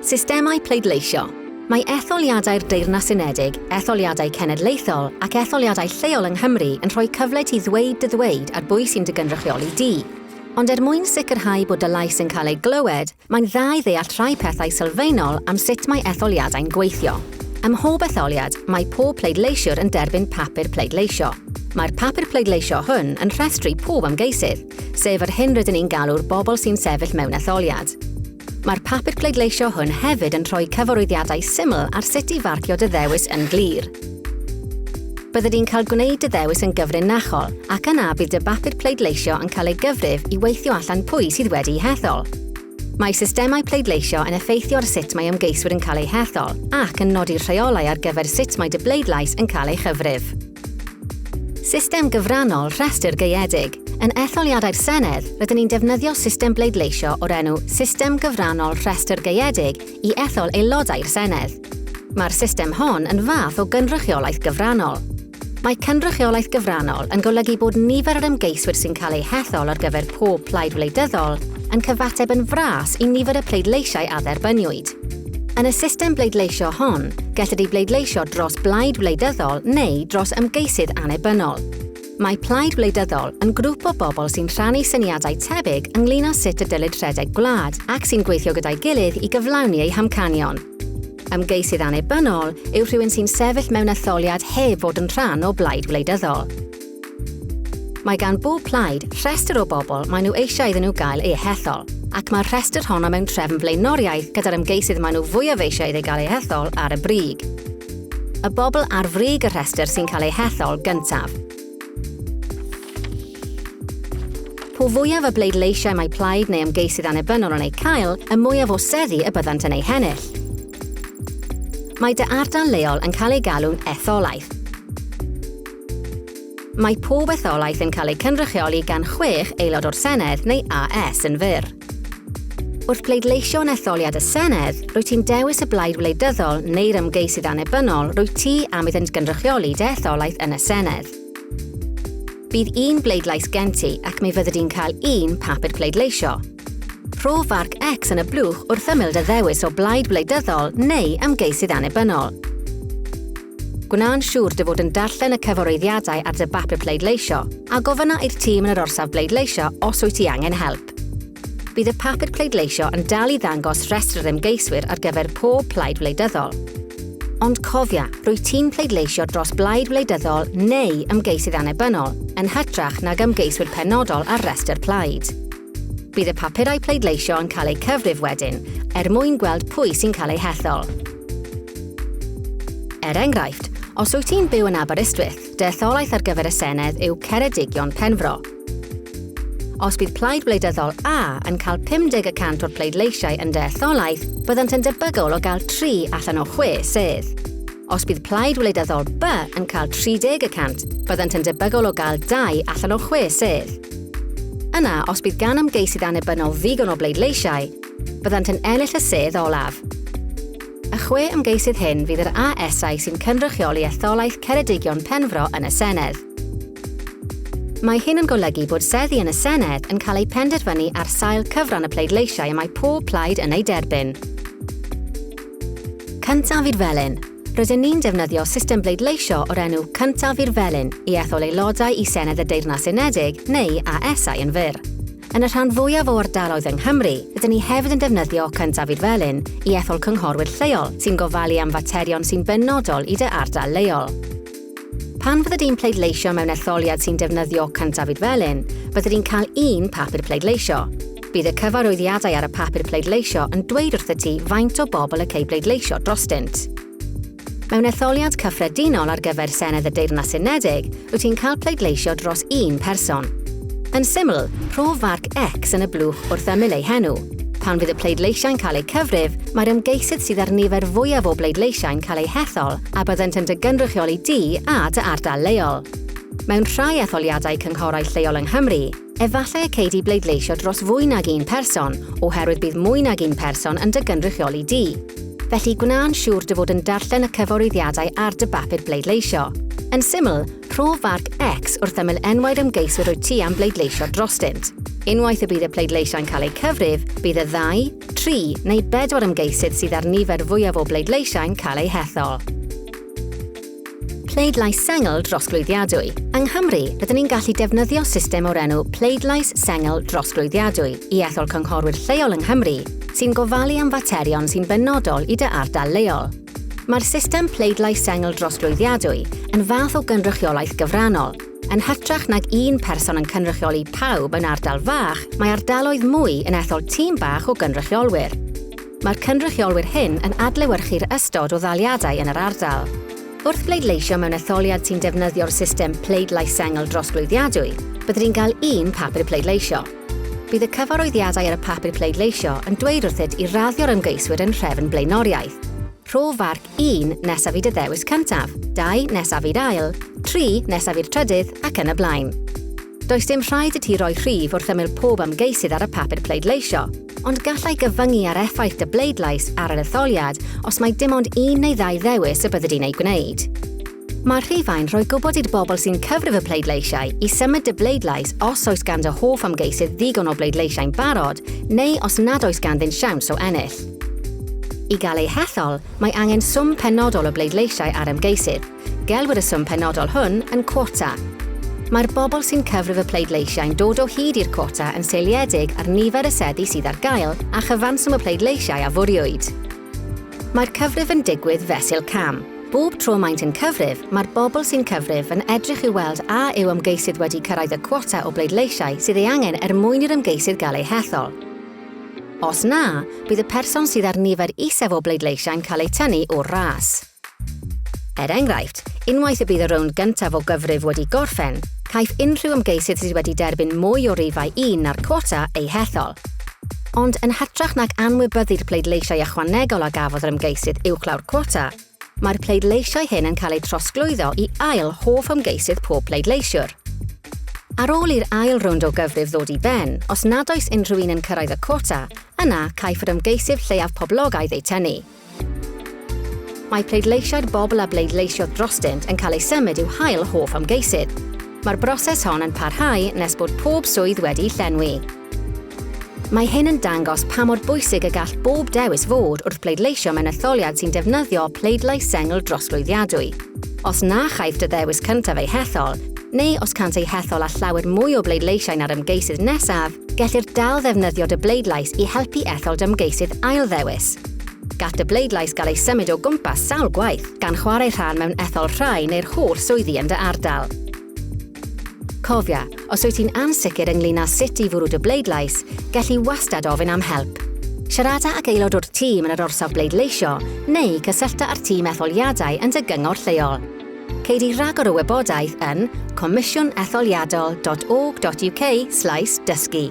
Systemau pleidleisio Mae etholiadau'r Deyrnas Unedig, etholiadau cenedlaethol ac etholiadau lleol yng Nghymru yn rhoi cyfle ti ddweud dy ddweud ar bwy sy'n dy gynrychioli di. Ond er mwyn sicrhau bod dy lais yn cael ei glywed, mae'n dda i ddeall rhai pethau sylfaenol am sut mae etholiadau'n gweithio. Ym mhob etholiad, mae pob pleidleisiwr yn derbyn papur pleidleisio. Mae'r papur pleidleisio hwn yn rhestru pob ymgeisydd, sef yr hyn rydyn ni'n galw'r bobl sy'n sefyll mewn etholiad. Mae'r papur pleidleisio hwn hefyd yn rhoi cyfarwyddiadau syml ar sut i farcio dy ddewis yn glir. Bydde di'n cael gwneud dy ddewis yn gyfrinachol ac yna bydd dy bapur pleidleisio yn cael ei gyfrif i weithio allan pwy sydd wedi'i hethol. Mae systemau pleidleisio yn effeithio ar sut mae ymgeiswyr yn cael eu hethol ac yn nodi'r rheolau ar gyfer sut mae dy bleidlais yn cael ei chyfrif. System gyfrannol rhestr gaeedig. Yn etholiadau'r Senedd, rydyn ni'n defnyddio system bleidleisio o'r enw System Gyfrannol Rhestr Gaeedig i ethol aelodau'r Senedd. Mae'r system hon yn fath o gynrychiolaeth gyfrannol. Mae cynrychiolaeth gyfrannol yn golygu bod nifer yr ymgeiswyr sy'n cael eu hethol ar gyfer pob plaid wleidyddol yn cyfateb yn fras i nifer y pleidleisiau a dderbyniwyd. Yn y system bleidleisio hon, gellir ei bleidleisio dros blaid wleidyddol neu dros ymgeisydd annibynnol. Mae plaid wleidyddol yn grŵp o bobl sy'n rhannu syniadau tebyg ynglyn â sut y dylid rhedeg gwlad ac sy'n gweithio gyda'i gilydd i gyflawni eu hamcanion. Ymgeisydd annibynnol yw rhywun sy'n sefyll mewn etholiad heb fod yn rhan o blaid wleidyddol. Mae gan bob plaid rhestr o bobl maen nhw eisiau iddyn nhw gael eu hethol, ac mae'r rhestr honno mewn trefn blaenoriaeth gyda'r ymgeisydd maen nhw fwyaf eisiau iddi gael ei hethol ar y brig. Y bobl ar frig y rhestr sy'n cael eu hethol gyntaf. Po fwyaf y bleidleisiau mae plaid neu ymgeisydd annibynnol yn eu cael, y mwyaf o seddi y byddant yn eu hennill. Mae dy ardal leol yn cael ei galw'n etholaeth, Mae pob etholaeth yn cael ei cynrychioli gan chwech aelod o'r Senedd neu AS yn fyr. Wrth bleidleisio yn etholiad y Senedd, rwy ti'n dewis y blaid wleidyddol neu'r ymgeisydd annibynnol rwy ti am iddynt gynrychioli dy etholaeth yn y Senedd. Bydd un bleidlais gen ti ac mi fyddi di'n cael un papur pleidleisio. Rho farc X yn y blwch wrth ymyl dy ddewis o blaid wleidyddol neu ymgeisydd annibynnol. Gwna'n siŵr dy fod yn darllen y cyfaroeddiadau ar dy bapur pleidleisio, a gofynna i'r tîm yn yr orsaf bleidleisio os wyt ti angen help. Bydd y papur pleidleisio yn dal i ddangos rhestr yr ymgeiswyr ar gyfer pob plaid wleidyddol. Ond cofia, rwyt ti'n pleidleisio dros blaid wleidyddol neu ymgeisydd annibynnol, yn hytrach nag ymgeiswyr penodol ar restr plaid. Bydd y papurau pleidleisio yn cael eu cyfrif wedyn, er mwyn gweld pwy sy'n cael eu hethol. Er enghraifft, os wyt ti'n byw yn Aberystwyth, dy etholaeth ar gyfer y Senedd yw Ceredigion Penfro. Os bydd Plaid Wleidyddol A yn cael 50 y cant o'r pleidleisiau yn dy etholaeth, byddant yn debygol o gael tri allan o chwe sedd. Os bydd plaid wleidyddol By yn cael 30 y cant, byddant yn debygol o gael dau allan o chwe sedd. Yna, os bydd gan ymgeisydd annibynnol ddigon o bleidleisiau, byddant yn ennill y sedd olaf. Y chwe ymgeisydd hyn fydd yr ASau sy'n cynrychioli etholaeth Ceredigion Penfro yn y Senedd. Mae hyn yn golygu bod seddi yn y Senedd yn cael eu penderfynu ar sail cyfran y pleidleisiau y mae pob plaid yn eu derbyn. Cyntaf i'r Felin. Rydyn ni'n defnyddio system bleidleisio o'r enw Cyntaf i'r Felin i ethol aelodau i Senedd y Deyrnas Unedig neu ASau yn fyr. Yn y rhan fwyaf o ardaloedd yng Nghymru, rydyn ni hefyd yn defnyddio Cyntaf i'r Felin i ethol cynghorwyr lleol sy'n gofalu am faterion sy'n benodol i dy ardal leol. Pan fyddet ti'n pleidleisio mewn etholiad sy'n defnyddio cyntafid felyn, byddet ti'n cael un papur pleidleisio. Bydd y cyfarwyddiadau ar y papur pleidleisio yn dweud wrthyt ti faint o bobl y cei bleidleisio drostynt. Mewn etholiad cyffredinol ar gyfer Senedd y Deyrnas Unedig, wyt ti'n cael pleidleisio dros un person. Yn syml, prof farc X yn y blwch wrth ymyl ei henw. Pan fydd y pleidleisiau'n cael eu cyfrif, mae'r ymgeisydd sydd â'r nifer fwyaf o bleidleisiau'n cael eu hethol a byddent yn dy gynrychioli di a dy ardal leol. Mewn rhai etholiadau cynghorau lleol yng Nghymru, efallai y cei di bleidleisio dros fwy nag un person oherwydd bydd mwy nag un person yn dy gynrychioli di. Felly, gwna'n siŵr dy fod yn darllen y cyfarwyddiadau ar dy bapur bleidleisio. Yn syml, rho farc X wrth ymyl enwau'r ymgeiswyr wyt ti am bleidleisio drostynt. Unwaith y bydd y pleidleisiau'n cael eu cyfrif, bydd y ddau, Tri neu bedwar ymgeisydd sydd â'r nifer fwyaf o bleidleisiau'n cael eu hethol. Pleidlais sengl drosglwyddiadwy. Yng Nghymru, rydyn ni'n gallu defnyddio system o'r enw pleidlais sengl drosglwyddiadwy i ethol cynghorwyr lleol yng Nghymru sy'n gofalu am faterion sy'n benodol i dy ardal leol. Mae'r system pleidlais sengl drosglwyddiadwy yn fath o gynrychiolaeth gyfrannol, Yn hytrach nag un person yn cynrychioli pawb yn ardal fach, mae ardaloedd mwy yn ethol tîm bach o gynrychiolwyr. Mae'r cynrychiolwyr hyn yn adlewyrchu'r ystod o ddaliadau yn yr ardal. Wrth bleidleisio mewn etholiad sy'n defnyddio'r system pleidlais sengl drosglwyddiadwy, bydd rhi'n cael un papur pleidleisio. Bydd y cyfarwyddiadau ar y papur pleidleisio yn dweud wrthyt i raddio'r ymgeiswyr yn nhrefn blaenoriaeth. Rho farc 1, nesaf i dy ddewis cyntaf, 2, nesaf i'r ail, 3, nesaf i'r trydydd, ac yn y blaen. Does dim rhaid i ti roi rhif wrth ymyl pob ymgeisydd ar y papur pleidleisio, ond gallai gyfyngu ar effaith dy bleidlais ar yr etholiad os mae dim ond un neu ddau ddewis y byddi di'n eu gwneud. Mae rhifau'n rhoi gwybod i'r bobl sy'n cyfrif y pleidleisiau i symud dy bleidlais os oes gan dy hoff ymgeisydd ddigon o bleidleisiau'n barod neu os nad oes ganddynt siawns o ennill. I gael eu hethol, mae angen swm penodol o bleidleisiau ar ymgeisydd. Gelwir y swm penodol hwn yn quota. Mae'r bobl sy'n cyfrif y pleidleisiau'n dod o hyd i'r quota yn seiliedig ar nifer y seddi sydd ar gael a chyfanswm y pleidleisiau a fwriwyd. Mae'r cyfrif yn digwydd fesul cam. Bob tro maent yn cyfrif, mae'r bobl sy'n cyfrif yn edrych i weld a yw ymgeisydd wedi cyrraedd y cwota o bleidleisiau sydd ei angen er mwyn i'r ymgeisydd gael ei hethol. Os na, bydd y person sydd â'r nifer isaf o bleidleisiau'n cael eu tynnu o'r ras. Er enghraifft, unwaith y bydd y rownd gyntaf o gyfrif wedi gorffen, caiff unrhyw ymgeisydd sydd wedi derbyn mwy o rifau un na'r cwota eu hethol. Ond, yn hytrach nag anwybyddu'r pleidleisiau ychwanegol a gafodd yr ymgeisydd uwchlaw'r cwota, mae'r pleidleisiau hyn yn cael eu trosglwyddo i ail hoff ymgeisydd pob pleidleisiwr. Ar ôl i'r ail rownd o gyfrif ddod i ben, os nad oes unrhyw un yn cyrraedd y cwota, yna caiff yr ymgeisydd lleiaf poblogaidd eu tynnu. Mae pleidleisiau'r bobl a bleidleisio drostynt yn cael eu symud i'w hail hoff ymgeisydd. Mae'r broses hon yn parhau nes bod pob swydd wedi'i llenwi. Mae hyn yn dangos pa mor bwysig y gall bob dewis fod wrth bleidleisio mewn etholiad sy'n defnyddio pleidlais sengl drosglwyddiadwy. Os na chaiff dy ddewis cyntaf ei hethol, neu os cânt eu hethol â llawer mwy o bleidleisiau na'r ymgeisydd nesaf, Gellir dal ddefnyddio dy bleidlais i helpu ethol dy ymgeisydd ailddewis. Gall dy bleidlais gael ei symud o gwmpas sawl gwaith, gan chwarae rhan mewn ethol rhai neu'r holl swyddi yn dy ardal. Cofia, os wyt ti'n ansicr ynglyn â sut i fwrw dy bleidlais, gelli wastad ofyn am help. Siarada ag aelod o'r tîm yn yr orsaf bleidleisio neu cysyllta â'r tîm etholiadau yn dy gyngor lleol. Ceid i ragor o wybodaeth yn comisiwnetholiadol.org.uk slaes dysgu.